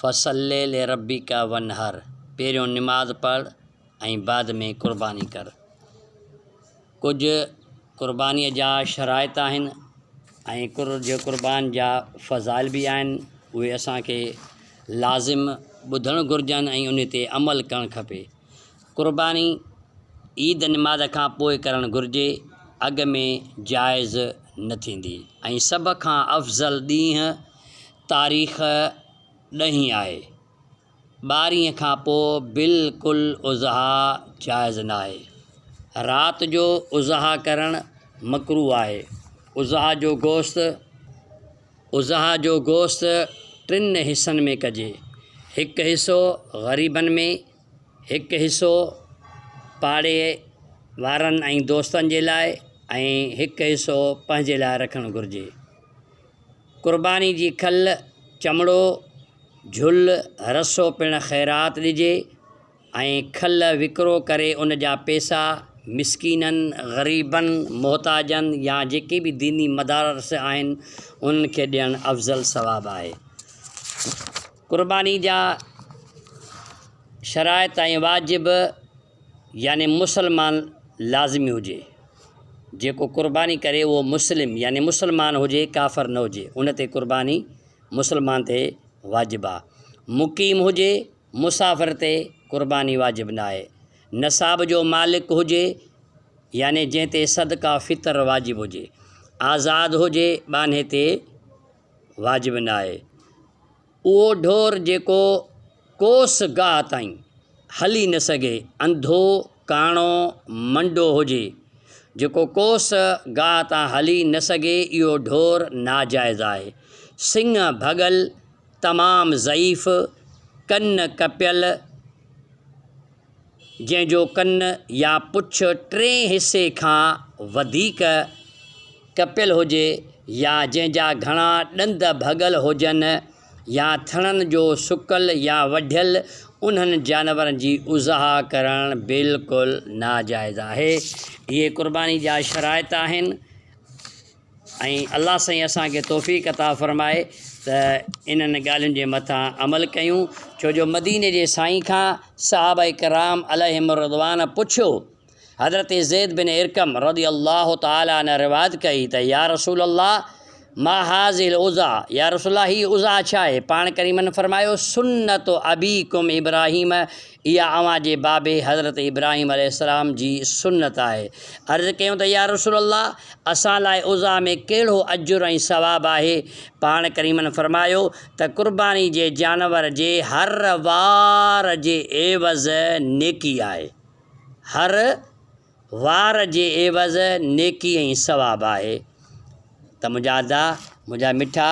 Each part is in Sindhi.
فصل لربک وانحر، پهريون نماز پڙهه ۽ بعد ۾ قرباني ڪر. ڪجهه قربانيء جا شرائط آهن ۽ ڪجهه قربان جا فضائل به آهن، اهي اسان کي لازم ٻڌڻ گهرجن ۽ انهي تي عمل ڪرڻ کپي. قرباني عيد نماز کان پوء ڪرڻ گهرجي، اڳ ۾ جائز نه ٿيندي ۽ سڀ کان افضل ڏينهن تاريخ ڏهين آهي. ٻارهين کان پوء بلڪل اضحيٰ جائز ناهي. رات جو اضحيٰ ڪرڻ مڪروه آهي. اضحيٰ جو گوشت اضحيٰ جو گوشت ٽن حصن ۾ ڪجي. هڪ حصو غريبن ۾ هڪ حصو پاڙي وارن ۽ دوستن جي لاء ۽ هڪ حصو پنهنجي لاء رکڻ گهرجي. قرباني جي کل، چمڙو، جھل، رسو پڻ خيرات ڏجي ۽ کل وڪرو ڪري ان جا پيسا مسڪينن، غريبن، محتاجن يا جيڪي به ديني مدارس آهن انهن کي ڏيڻ افضل ثواب آهي. قرباني جا شرائط ۽ واجب يعني مسلمان لازمي هجي، جيڪو قرباني ڪري اهو مسلم يعني مسلمان هجي ڪافر نه هجي، ان تي قرباني مسلمان تي واجب آ. مقيم هجي، مسافر تي قرباني واجب نه آهي. نصاب جو مالڪ هجي يعني جنهن تي صدقه فطر واجب هجي. آزاد هجي ٻانهي تي واجب نه آهي. اهو ڍور جيڪو ڪوس گاهه تائين هلي نه سگهي، انڌو، ڪاڻو، منڊو هجي، جيڪو ڪوس گاهه تان هلي نه سگهي، اهو ڍور ناجائز آهي. سڱ ڀڳل، تمام ضعيف، ڪن ڪپيل، جنهن جو ڪن يا پڇ ٽئين حصي کان وڌيڪ ڪپيل هجي يا جنهن جا گهڻا ڏند ڀڳل هجن يا ٿڻن جو سڪل يا وڍيل انهن جانورن جي اضحا ڪرڻ بلڪل ناجائز آهي اهي قرباني جا شرائط آهن. ۽ الله سائين اسان کي توفيق عطا فرمائي ته انهن ڳالهين جي مٿان عمل ڪيون ڇو جو مديني جي سائين کان صحابه ڪرام عليهم الرضوان پڇيو حضرت زيد بن ارقم رضي الله تعالٰي عنه روايت ڪئي ته يا رسول الله ما هذه العزا يا رسول الله هي عزا ڇا آهي پاڻ ڪريمن فرمايو سنت ابيڪم ابراهيم اها اوهان جي بابي حضرت ابراهيم عليه السلام جي سنت آهي. عرض ڪيون ته يا رسول الله! اسان لاء اضحيٰ ۾ ڪهڙو اجر ۽ ثواب آهي؟ پاڻ ڪريمن فرمايو ته قرباني جي جانور جي هر وار جي عيوض نيڪي آهي. هر. وار جي عيوض نيڪي ۽ ثواب آهي ته منهنجا ادا منهنجا مٺا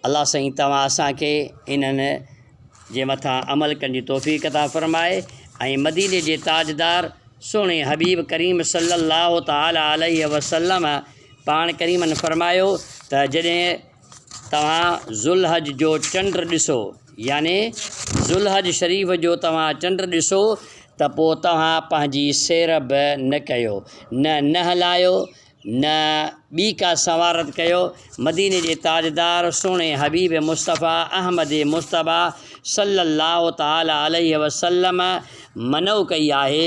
الله سائين توهان اسان کي انهن جي مٿان عمل ڪرڻ جي توفيق عطا فرمائي ۽ مديني جي تاجدار سهڻي حبيب ڪريم صلي الله تعالٰي عليه وسلم پاڻ ڪريمن فرمايو ته جڏهن توهان ذوالحج جو چنڊ ڏسو، يعني ذوالحج شريف جو توهان چنڊ ڏسو ته پوء توهان پنهنجي سير به نه ڪيو، نه ننهن لاهيو، نه ٻي ڪا سنوارت ڪيو، مديني جي تاجدار سهڻي حبيب مصطفيٰ احمد مجتبيٰ صلّي اللّٰه تعالٰي عليه وسلّم منع ڪئي آهي،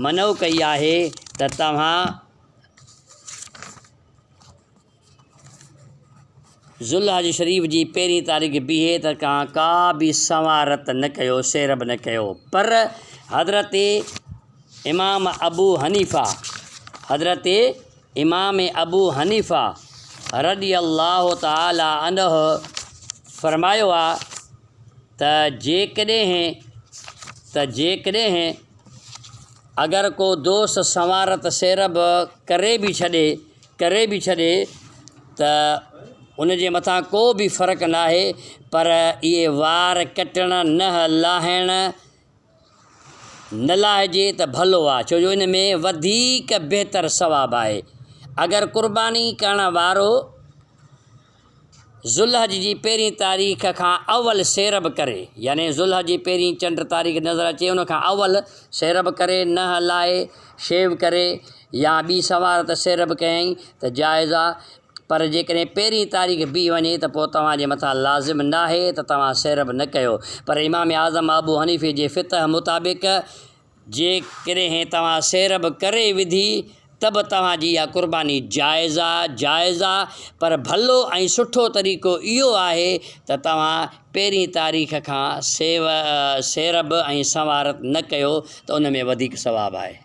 منع ڪئي آهي ته توهان. ذوالحج شريف جي پهرين تاريخ بيهي ته کان ڪا به سنوار رت نه ڪيو، سير به نه ڪيو. پر حضرت امام ابو حنيفه، حضرت امام ابو حنيفه رضي الله تعالٰي عنه فرمايو آ ته جيڪڏهن ته جيڪڏهن اگر ڪو دوست سنوار رت سير به ڪري به ڇڏي، ڪري به ڇڏي ته ان جي مٿان ڪو به فرق ناهي پر اهي وار ڪٽڻ نه لاهڻ نه لاهجي ته ڀلو آهي ڇو جو ان ۾ وڌيڪ بهتر ثواب آهي اگر قرباني ڪرڻ وارو ذوالحج جي پهرين تاريخ کان اول سيرب ڪري، يعني ذوالحج جي پهرين چنڊ تاريخ نظر اچي ان کان اول سيرب ڪري، نهه لاء، شيو ڪري يا ٻي سنوارت سيرب ڪيائين ته جائز آ، پر جيڪڏهن پهرين تاريخ بيهي وڃي ته پوء توهان جي مٿان لازم ناهي ته توهان سيرب نه ڪيو، پر امام اعظم ابو حنيفي جي فطه مطابق، جيڪڏهن توهان سير به ڪري وڌي ته به توهان جي اها قرباني جائز آ، جائز آ، پر ڀلو ۽ سٺو طريقو اهو آهي ته توهان پهرين تاريخ کان سير به ۽ سنوارت نه ڪيو ته ان ۾ وڌيڪ ثواب آهي.